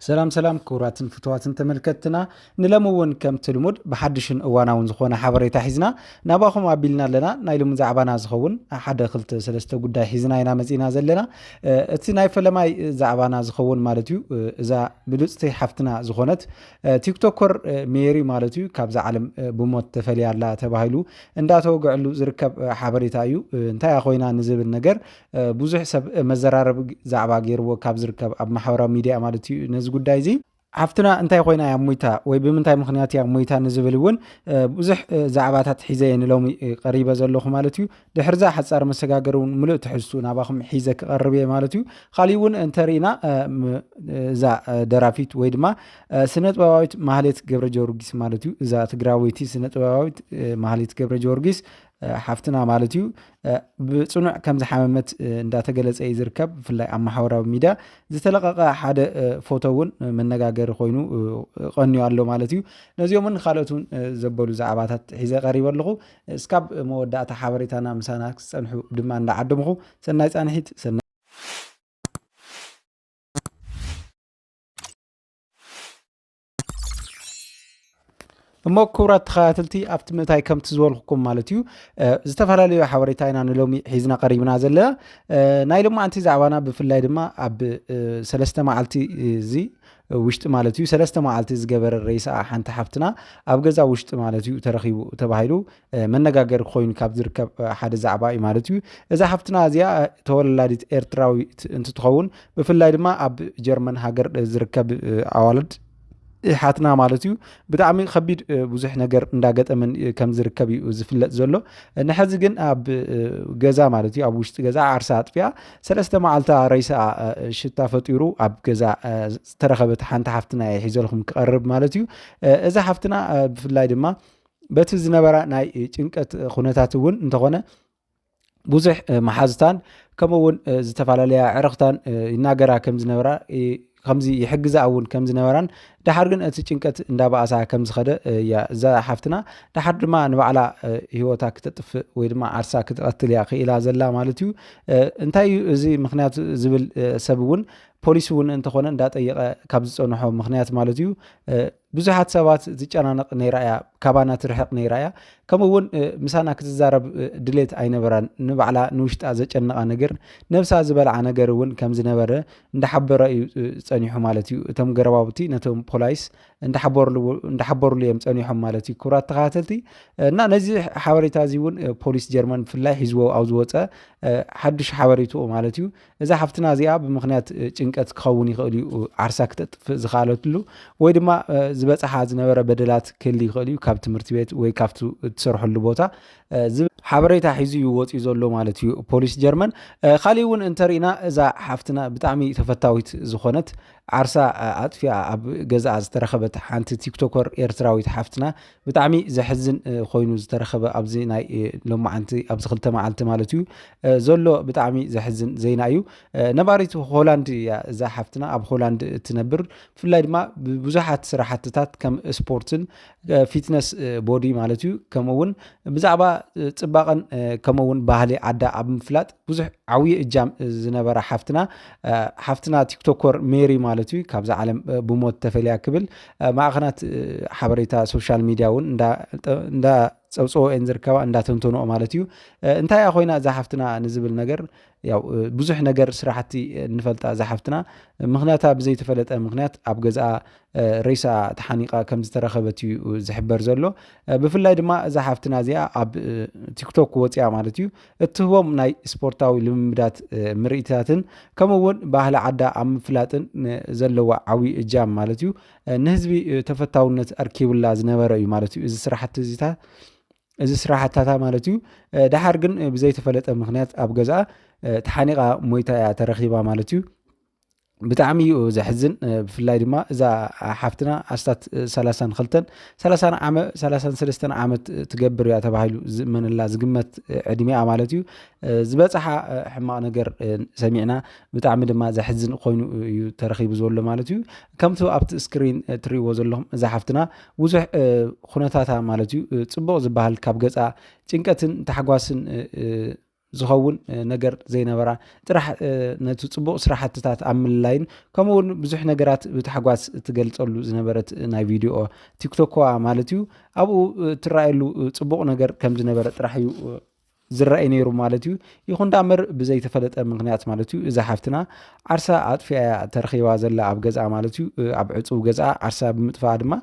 ሰላም ሰላም ክቡራትን ፍትዋትን ተመልከትትና ንለሚ እውን ከምቲ ልሙድ ብሓድሽን እዋናውን ዝኾነ ሓበሬታ ሒዝና ናባኹም ኣቢልና ኣለና ናይ ሎሚ ዛዕባና ዝኸውን ሓደ ክልተ ሰለስተ ጉዳይ ሒዝና ኢና መፂና ዘለና እቲ ናይ ፈለማይ ዛዕባና ዝኸውን ማለት እዩ እዛ ብሉፅቲ ሓፍትና ዝኾነት ቲክቶከር ሜሪ ማለት እዩ ካብዛ ዓለም ብሞት ተፈልያ ኣላ ተባሂሉ እንዳተወግዐሉ ዝርከብ ሓበሬታ እዩ እንታይ ኮይና ንዝብል ነገር ብዙሕ ሰብ መዘራረቢ ዛዕባ ገይርዎ ካብ ዝርከብ ኣብ ማሕበራዊ ሚድያ ማለት እዩ ነዚ ጉዳይ እዚ ሓፍትና እንታይ ኮይና እያ ሞይታ ወይ ብምንታይ ምክንያት እያ ሞይታ ንዝብል እውን ብዙሕ ዛዕባታት ሒዘ እየ ንሎሚ ቀሪበ ዘለኹ ማለት እዩ ድሕርዛ ሓፃር መሰጋገሪ እውን ምሉእ ትሕዝቱ ናባኹም ሒዘ ክቐርብ እየ ማለት እዩ ካሊእ እውን እንተርኢና እዛ ደራፊት ወይ ድማ ስነ ጥበባዊት ማህሌት ገብረ ጀወርጊስ ማለት እዩ እዛ ትግራወይቲ ስነ ጥበባዊት ማህሌት ገብረ ጀወርጊስ ሓፍትና ማለት እዩ ብፅኑዕ ከም ዝሓመመት እንዳተገለፀ እዩ ዝርከብ ብፍላይ ኣብ ማሕበራዊ ሚድያ ዝተለቀቀ ሓደ ፎቶ እውን መነጋገሪ ኮይኑ ቀንዩ ኣሎ ማለት እዩ ነዚኦምን ካልኦት እውን ዘበሉ ዛዕባታት ሒዘ ቀሪበ ኣለኹ እስካብ መወዳእታ ሓበሬታና ምሳና ክፀንሑ ድማ እንዳዓደምኹ ሰናይ ፃንሒት ሰናይ እሞ ክቡራት ተኸታተልቲ ኣብቲ ምእታይ ከምቲ ዝበልኩኩም ማለት እዩ ዝተፈላለዩ ሓበሬታ ኢና ንሎሚ ሒዝና ቀሪብና ዘለና ናይ ሎማዓንቲ ዛዕባና ብፍላይ ድማ ኣብ ሰለስተ መዓልቲ እዚ ውሽጢ ማለት እዩ ሰለስተ መዓልቲ ዝገበረ ረይስኣ ሓንቲ ሓፍትና ኣብ ገዛ ውሽጢ ማለት እዩ ተረኪቡ ተባሂሉ መነጋገሪ ኮይኑ ካብ ዝርከብ ሓደ ዛዕባ እዩ ማለት እዩ እዛ ሓፍትና እዚኣ ተወላዲት ኤርትራዊት እንትትኸውን ብፍላይ ድማ ኣብ ጀርመን ሃገር ዝርከብ ኣዋልድ ሓትና ማለት እዩ ብጣዕሚ ከቢድ ብዙሕ ነገር እንዳገጠመን ከም ዝርከብ እዩ ዝፍለጥ ዘሎ ንሐዚ ግን ኣብ ገዛ ማለት እዩ ኣብ ውሽጢ ገዛ ዓርሳ ኣጥፊያ ሰለስተ መዓልታ ረይሳ ሽታ ፈጢሩ ኣብ ገዛ ዝተረኸበት ሓንቲ ሓፍትና እየ ሒዘልኩም ክቐርብ ማለት እዩ እዛ ሓፍትና ብፍላይ ድማ በቲ ዝነበራ ናይ ጭንቀት ኩነታት እውን እንተኾነ ብዙሕ መሓዝታን ከምኡ እውን ዝተፈላለያ ዕረኽታን ይናገራ ከም ዝነበራ ከምዚ ይሕግዛ እውን ከም ዝነበራን ድሓር ግን እቲ ጭንቀት እንዳበኣሳ ከም ዝኸደ እያ እዛ ሓፍትና ድሓር ድማ ንባዕላ ሂወታ ክተጥፍእ ወይ ድማ ዓርሳ ክትቐትል እያ ክኢላ ዘላ ማለት እዩ እንታይ እዩ እዚ ምክንያት ዝብል ሰብ እውን ፖሊስ እውን እንተኾነ እንዳጠየቐ ካብ ዝፀንሖ ምክንያት ማለት እዩ ብዙሓት ሰባት ዝጨናነቕ ነይራ እያ ካባና ትርሕቕ ነይራ እያ ከምኡ እውን ምሳና ክትዛረብ ድሌት ኣይነበራን ንባዕላ ንውሽጣ ዘጨነቓ ነገር ነብሳ ዝበልዓ ነገር እውን ከም ዝነበረ እንዳሓበረ እዩ ፀኒሑ ማለት እዩ እቶም ገረባውቲ ነቶም ፖላይስ እንዳሓበሩሉ እዮም ፀኒሖም ማለት እዩ ክብራት ተኸታተልቲ እና ነዚ ሓበሬታ እዚ እውን ፖሊስ ጀርመን ብፍላይ ሒዝዎ ኣብ ዝወፀ ሓዱሽ ሓበሬትኡ ማለት እዩ እዛ ሓፍትና እዚኣ ብምኽንያት ጭንቀት ክኸውን ይኽእል እዩ ዓርሳ ክተጥፍእ ዝኸኣለትሉ ወይ ድማ ዝበፅሓ ዝነበረ በደላት ክህል ይኽእል እዩ ካብ ትምህርቲ ቤት ወይ ካብቲ እትሰርሐሉ ቦታ ሓበሬታ ሒዙ እዩ ወፂኡ ዘሎ ማለት እዩ ፖሊስ ጀርመን ካሊእ እውን እንተሪእና እዛ ሓፍትና ብጣዕሚ ተፈታዊት ዝኾነት ዓርሳ ኣጥፊኣ ኣብ ገዛኣ ዝተረኸበት ሓንቲ ቲክቶከር ኤርትራዊት ሓፍትና ብጣዕሚ ዘሕዝን ኮይኑ ዝተረኸበ ኣብዚ ናይ ሎማዓንቲ ኣብዚ ክልተ መዓልቲ ማለት እዩ ዘሎ ብጣዕሚ ዘሕዝን ዜና እዩ ነባሪት ሆላንድ እያ እዛ ሓፍትና ኣብ ሆላንድ እትነብር ብፍላይ ድማ ብብዙሓት ስራሕትታት ከም ስፖርትን ፊትነስ ቦዲ ማለት እዩ ከምኡ እውን ብዛዕባ ፅባቐን ከምኡ እውን ባህሊ ዓዳ ኣብ ምፍላጥ ብዙሕ ዓብዪ እጃም ዝነበራ ሓፍትና ሓፍትና ቲክቶኮር ሜሪ ማለት እዩ ካብዛ ዓለም ብሞት ተፈልያ ክብል ማዕኸናት ሓበሬታ ሶሻል ሚድያ እውን እንዳ ፀብፀቦ እየን ዝርከባ እንዳተንተንኦ ማለት እዩ እንታይ እያ ኮይና እዛ ሓፍትና ንዝብል ነገር ያው ብዙሕ ነገር ስራሕቲ እንፈልጣ እዛ ሓፍትና ምክንያታ ብዘይተፈለጠ ምክንያት ኣብ ገዝኣ ሬሳ ተሓኒቃ ከም ዝተረኸበት እዩ ዝሕበር ዘሎ ብፍላይ ድማ እዛ ሓፍትና እዚኣ ኣብ ቲክቶክ ወፅያ ማለት እዩ እትህቦም ናይ ስፖርታዊ ልምምዳት ምርኢትታትን ከምኡ እውን ባህሊ ዓዳ ኣብ ምፍላጥን ዘለዋ ዓብዪ እጃም ማለት እዩ ንህዝቢ ተፈታውነት ኣርኪቡላ ዝነበረ እዩ ማለት እዩ እዚ ስራሕቲ እዚታ እዚ ስራሕታታ ማለት እዩ ድሓር ግን ብዘይተፈለጠ ምክንያት ኣብ ገዛኣ ተሓኒቓ ሞይታ እያ ተረኺባ ማለት እዩ ብጣዕሚ እዩ ዘሕዝን ብፍላይ ድማ እዛ ሓፍትና ኣስታት ሰላሳን ክልተን ሰላሳን ዓመ ሰላሳን ሰለስተን ዓመት ትገብር እያ ተባሂሉ ዝእመነላ ዝግመት ዕድሜኣ ማለት እዩ ዝበፅሓ ሕማቕ ነገር ሰሚዕና ብጣዕሚ ድማ ዘሕዝን ኮይኑ እዩ ተረኪቡ ዘሎ ማለት እዩ ከምቲ ኣብቲ ስክሪን ትሪእዎ ዘለኹም እዛ ሓፍትና ብዙሕ ኩነታታ ማለት እዩ ፅቡቕ ዝበሃል ካብ ገፃ ጭንቀትን ታሕጓስን ዝኸውን ነገር ዘይነበራ ጥራሕ ነቲ ፅቡቕ ስራሕትታት ኣብ ምልላይን ከምኡ እውን ብዙሕ ነገራት ብታሕጓስ እትገልፀሉ ዝነበረት ናይ ቪድዮ ቲክቶክዋ ማለት እዩ ኣብኡ እትረኣየሉ ፅቡቕ ነገር ከም ዝነበረ ጥራሕ እዩ ዝረኣይ ነይሩ ማለት እዩ ይኹን ዳ እምበር ብዘይተፈለጠ ምክንያት ማለት እዩ እዛ ሓፍትና ዓርሳ ኣጥፊኣ ተረኺባ ዘላ ኣብ ገዝኣ ማለት እዩ ኣብ ዕፁብ ገዝኣ ዓርሳ ብምጥፋኣ ድማ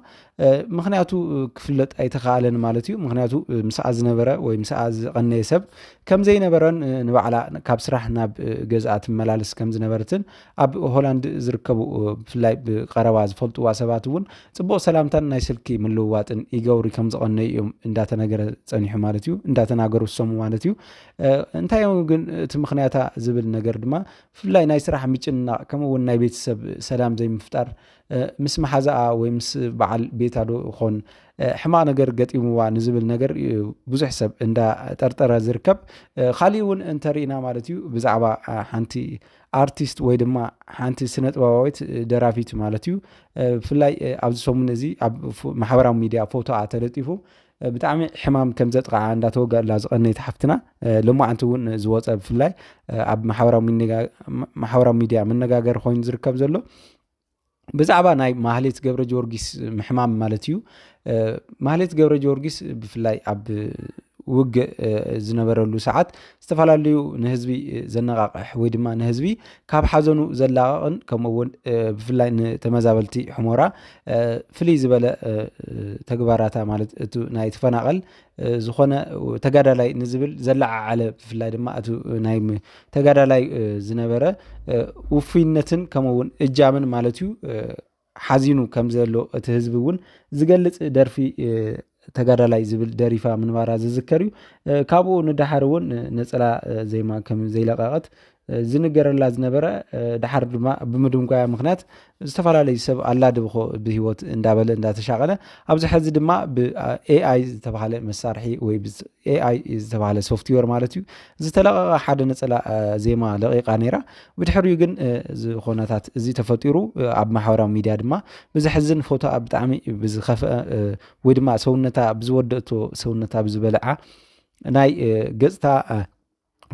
ምክንያቱ ክፍለጥ ኣይተኻኣለን ማለት እዩ ምክንያቱ ምስኣ ዝነበረ ወይ ምስኣ ዝቐነየ ሰብ ከም ዘይነበረን ንባዕላ ካብ ስራሕ ናብ ገዝኣ ትመላልስ ከም ዝነበረትን ኣብ ሆላንድ ዝርከቡ ብፍላይ ብቀረባ ዝፈልጥዋ ሰባት እውን ፅቡቕ ሰላምታን ናይ ስልኪ ምልውዋጥን ይገብሩ ከም ዝቐነዩ እዮም እንዳተነገረ ፀኒሑ ማለት እዩ እንዳተናገሩ ዝሰሙ ማለት እዩ እንታይ እዮም ግን እቲ ምክንያታ ዝብል ነገር ድማ ብፍላይ ናይ ስራሕ ምጭንናቕ ከምኡውን ናይ ቤተሰብ ሰላም ዘይምፍጣር ምስ መሓዛኣ ወይ ምስ በዓል ቤታ ዶ ኾን ሕማቕ ነገር ገጢምዋ ንዝብል ነገር እዩ ብዙሕ ሰብ እንዳጠርጠረ ዝርከብ ካሊእ እውን እንተርኢና ማለት እዩ ብዛዕባ ሓንቲ ኣርቲስት ወይ ድማ ሓንቲ ስነ ጥበባዊት ደራፊት ማለት እዩ ብፍላይ ኣብዚ ሰሙን እዚ ኣብ ማሕበራዊ ሚድያ ፎቶኣ ተለጢፉ ብጣዕሚ ሕማም ከም ዘጥቃዓ እንዳተወገላ ዝቐነይት ሓፍትና ሎማዓንቲ እውን ዝወፀ ብፍላይ ኣብ ማሕበራዊ ሚድያ መነጋገሪ ኮይኑ ዝርከብ ዘሎ ብዛዕባ ናይ ማህሌት ገብረ ጊዮርጊስ ምሕማም ማለት እዩ ማህሌት ገብረ ጊዮርጊስ ብፍላይ ኣብ ውግእ ዝነበረሉ ሰዓት ዝተፈላለዩ ንህዝቢ ዘነቃቅሕ ወይ ድማ ንህዝቢ ካብ ሓዘኑ ዘላቀቕን ከምኡ እውን ብፍላይ ንተመዛበልቲ ሕሞራ ፍልይ ዝበለ ተግባራታ ማለት እቲ ናይ ተፈናቐል ዝኾነ ተጋዳላይ ንዝብል ዘለዓዓለ ብፍላይ ድማ እቲ ናይ ተጋዳላይ ዝነበረ ውፍይነትን ከምኡ እውን እጃምን ማለት እዩ ሓዚኑ ከም ዘሎ እቲ ህዝቢ እውን ዝገልፅ ደርፊ ተጋዳላይ ዝብል ደሪፋ ምንባራ ዝዝከር እዩ ካብኡ ንደሓር እውን ነፀላ ዜማ ከም ዘይለቀቐት ዝንገረላ ዝነበረ ድሓር ድማ ብምድንጓያ ምክንያት ዝተፈላለዩ ሰብ ኣላድብኾ ብሂወት እንዳበለ እንዳተሻቐለ ኣብዚ ሕዚ ድማ ብኤኣይ ዝተባሃለ መሳርሒ ወይ ኤኣይ ዝተባሃለ ሶፍትዌር ማለት እዩ ዝተለቐቐ ሓደ ነፀላ ዜማ ለቂቃ ነይራ ብድሕሪኡ ግን ዝኾነታት እዚ ተፈጢሩ ኣብ ማሕበራዊ ሚድያ ድማ ብዘሕዝን ፎቶ ኣብ ብጣዕሚ ብዝኸፍአ ወይ ድማ ሰውነታ ብዝወደእቶ ሰውነታ ብዝበልዓ ናይ ገፅታ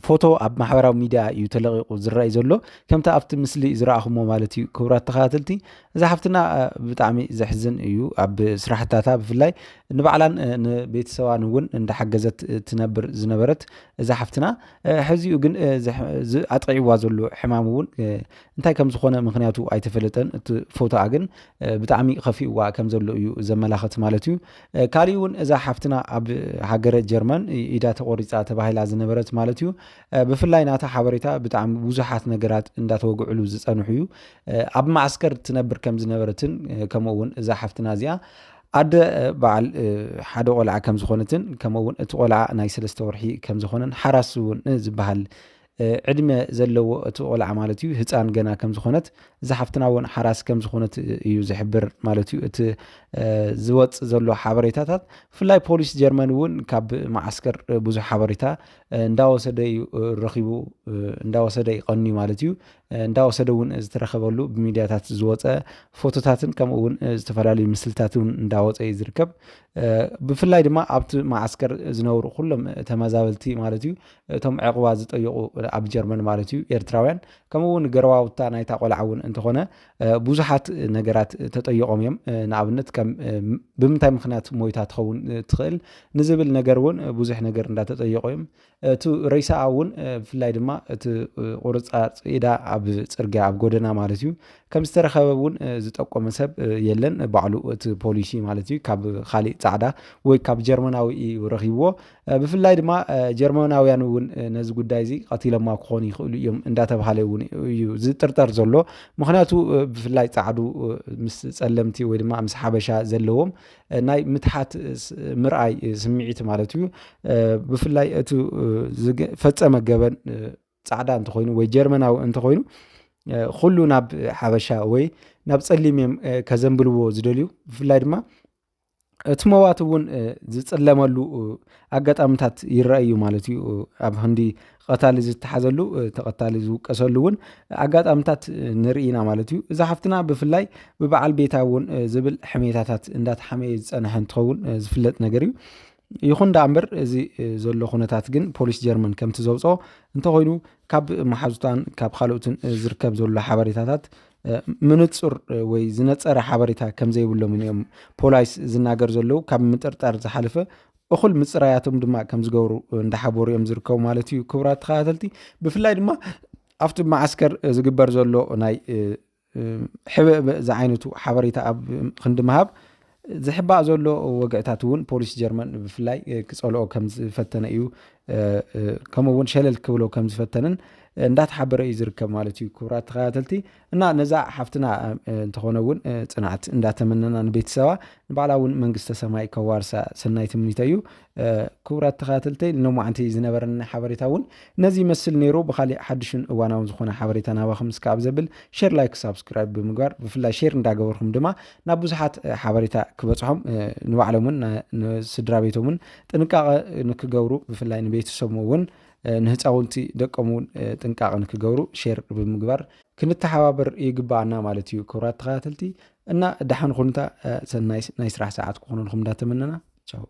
ፎቶ ኣብ ማሕበራዊ ሚድያ እዩ ተለቂቁ ዝረኣይ ዘሎ ከምቲ ኣብቲ ምስሊ ዝረኣኹሞ ማለት እዩ ክቡራት ተኸታተልቲ እዛ ሓፍትና ብጣዕሚ ዘሕዝን እዩ ኣብ ስራሕታታ ብፍላይ ንባዕላን ንቤተሰባን እውን እንዳሓገዘት ትነብር ዝነበረት እዛ ሓፍትና ሕዚኡ ግን ኣጥቂዕዋ ዘሎ ሕማም እውን እንታይ ከም ዝኾነ ምክንያቱ ኣይተፈለጠን እቲ ፎቶኣ ግን ብጣዕሚ ከፊእዋ ከም ዘሎ እዩ ዘመላኸት ማለት እዩ ካሊእ እውን እዛ ሓፍትና ኣብ ሃገረ ጀርመን ኢዳ ተቆሪፃ ተባሂላ ዝነበረት ማለት እዩ ብፍላይ ናታ ሓበሬታ ብጣዕሚ ብዙሓት ነገራት እንዳተወግዕሉ ዝፀንሑ እዩ ኣብ ማዕስከር ትነብር ከም ዝነበረትን ከምኡ እውን እዛ ሓፍትና እዚኣ ኣደ በዓል ሓደ ቆልዓ ከም ዝኾነትን ከምኡ እውን እቲ ቆልዓ ናይ ሰለስተ ወርሒ ከም ዝኾነን ሓራስ እውን ዝበሃል ዕድመ ዘለዎ እቲ ቆልዓ ማለት እዩ ህፃን ገና ከም ዝኾነት እዛ ሓፍትና እውን ሓራስ ከም ዝኾነት እዩ ዝሕብር ማለት እዩ እቲ ዝወፅ ዘሎ ሓበሬታታት ብፍላይ ፖሊስ ጀርመን እውን ካብ መዓስከር ብዙሕ ሓበሬታ እንዳወሰደ እዩ ረኺቡ እንዳወሰደ ይቐንዩ ማለት እዩ እንዳወሰደ እውን ዝተረኸበሉ ብሚዲያታት ዝወፀ ፎቶታትን ከምኡ እውን ዝተፈላለዩ ምስልታት እውን እንዳወፀ እዩ ዝርከብ ብፍላይ ድማ ኣብቲ መዓስከር ዝነብሩ ኩሎም ተመዛበልቲ ማለት እዩ እቶም ዕቕባ ዝጠየቑ ኣብ ጀርመን ማለት እዩ ኤርትራውያን ከምኡ እውን ገረዋውታ ናይታ ቆልዓ እውን እንተኾነ ብዙሓት ነገራት ተጠይቖም እዮም ንኣብነት ከም ብምንታይ ምክንያት ሞይታ ትኸውን ትኽእል ንዝብል ነገር እውን ብዙሕ ነገር እንዳተጠየቑ እዮም እቲ ረይሳኣ እውን ብፍላይ ድማ እቲ ቁርፃ ፅኢዳ ኣብ ፅርግያ ኣብ ጎደና ማለት እዩ ከም ዝተረኸበ እውን ዝጠቆመ ሰብ የለን ባዕሉ እቲ ፖሊሲ ማለት እዩ ካብ ካሊእ ፃዕዳ ወይ ካብ ጀርመናዊ እዩ ረኺብዎ ብፍላይ ድማ ጀርመናውያን እውን ነዚ ጉዳይ እዚ ቀቲሎማ ክኾኑ ይኽእሉ እዮም እንዳተባሃለ እውን እዩ ዝጥርጠር ዘሎ ምክንያቱ ብፍላይ ፃዕዱ ምስ ፀለምቲ ወይ ድማ ምስ ሓበሻ ዘለዎም ናይ ምትሓት ምርኣይ ስምዒት ማለት እዩ ብፍላይ እቲ ፈፀመ ገበን ፃዕዳ እንተኮይኑ ወይ ጀርመናዊ እንተኮይኑ ኩሉ ናብ ሓበሻ ወይ ናብ ፀሊም እዮም ከዘንብልዎ ዝደልዩ ብፍላይ ድማ እቲ መዋቲ እውን ዝፅለመሉ ኣጋጣሚታት ይረአ እዩ ማለት እዩ። ኣብ ህንዲ ቐታሊ ዝተሓዘሉ ተቐታሊ ዝውቀሰሉ እውን ኣጋጣሚታት ንርኢ ኢና ማለት እዩ። እዛ ሓፍትና ብፍላይ ብበዓል ቤታ እውን ዝብል ሕሜታታት እንዳተሓመየ ዝፀንሐ እንትኸውን ዝፍለጥ ነገር እዩ። ይኹን ደኣ እምበር እዚ ዘሎ ኩነታት ግን ፖሊስ ጀርመን ከምቲ ዘውፅኦ እንተኾይኑ ካብ መሓዙታን ካብ ካልኦትን ዝርከብ ዘሎ ሓበሬታታት ምንፁር ወይ ዝነፀረ ሓበሬታ ከምዘይብሎምን እዮም ፖላይስ ዝናገር ዘለዉ ካብ ምጥርጣር ዝሓለፈ እኹል ምፅራያቶም ድማ ከም ዝገብሩ እንዳሓበሩ እዮም ዝርከቡ ማለት እዩ ክቡራት ተኸታተልቲ ብፍላይ ድማ ኣብቲ መዓስከር ዝግበር ዘሎ ናይ ሕበእበእ ዝዓይነቱ ሓበሬታ ኣብ ክንዲ ምሃብ ዝሕባእ ዘሎ ወግዕታት እውን ፖሊስ ጀርመን ብፍላይ ክፀልኦ ከም ዝፈተነ እዩ ከምኡ እውን ሸለል ክብሎ ከም ዝፈተንን እንዳተሓበረ እዩ ዝርከብ ማለት እዩ ክብራት ተኸታተልቲ እና ነዛ ሓፍትና እንተኾነ እውን ፅንዓት እንዳተመነና ንቤተሰባ ንባዕላ እውን መንግስተ ሰማይ ከዋርሳ ሰናይ ትምኒተ እዩ ክቡራት ተኸታተልተይ ሎማዕንቲ ዝነበረኒ ሓበሬታ እውን ነዚ ይመስል ነይሩ ብካሊእ ሓድሽን እዋናውን ዝኾነ ሓበሬታ ናባኹም እስካብ ዘብል ሼር ላይክ ሳብስክራይብ ብምግባር ብፍላይ ሼር እንዳገበርኩም ድማ ናብ ብዙሓት ሓበሬታ ክበፅሖም ንባዕሎምን ንስድራ ቤቶምን ጥንቃቐ ንክገብሩ ብፍላይ ንቤተሰቡ እውን ንህፃውንቲ ደቆም እውን ጥንቃቐ ንክገብሩ ሼር ብምግባር ክንተሓባበር ይግባኣና ማለት እዩ ክቡራት ተኸታተልቲ እና ደሓን ኩኑታ ሰናይ ናይ ስራሕ ሰዓት ክኾነልኩም እንዳተመነና ቻው